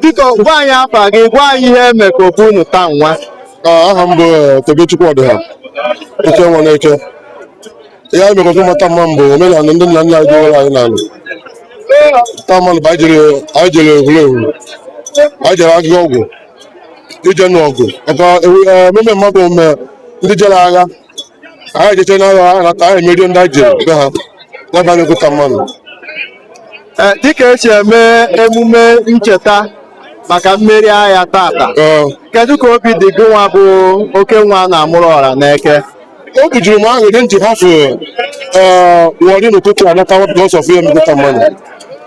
Biko gwa anyị afa gị, gwa anyị ihe eme ka Ogui unu taa nwa. Ah, aha m bụ eh, Tobechukwu Ọdịha oke nwa n'Eke ihe anyị mekọta mata mma m bụ omenala ndị nna nna anyị dịwara anyị n'ala taa mmanụ bụ anyị jere anyị jere Ehurehu anyị jere agụgụ ọgwụ ije n'ọgụ maka ewu- eh, ememe mmadụ ome ndị jere agha anyị jeche n'agha ha nata anyị emerie ndị anyị jere be ha n'ebe a na-egota mmanụ Eh, dịka esi eme emume ncheta maka mmeri agha tata Ee, kedu ka obi dị gị nwa bụ oke nwa a na-amụrụ ọra n'Eke obi juru m ahụ dị nji hafụ Warri n'ụtụtụ a natawa because of ya emegota mmanụ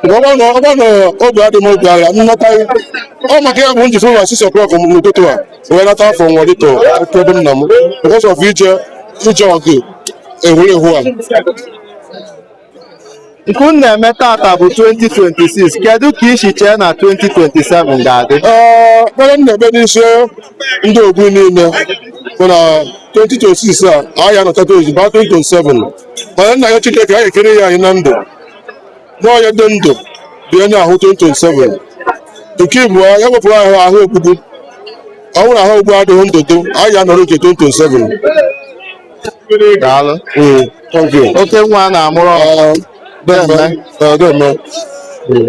Mgbe ọ bụrụ na ọ bụrụ na obi adị m obi agha m nataghị ọ maka ya bụ nji fụ ụlọ 6 o'clock n'ụtụtụ a wee nata from Warri to Eke ebe nna m because of ije ije ọgụ Ehurehu a nke unu na-eme tata bụ 2026 kedu ka i si chee na 2027 ga-adị ekpere m na-ekpe n'isi ndị Ogui niile bụ na 2026 a anyị anọtata ozugbo 2027 mana m na-ayọ Chineke anyị ekere ya anyị na ndụ n'onye dị ndụ bụ onye ahụ 2027 nke ịbụa ya wepụrụ anyị ahụ ogbugbu ọ bụrụ ahụ ogbugbu adịghị ndụ dụ anyị ya nọrọ nke 2027 daalụ Mm, thank you. oke nwa a na-amụrụ ọra Deme. Mm.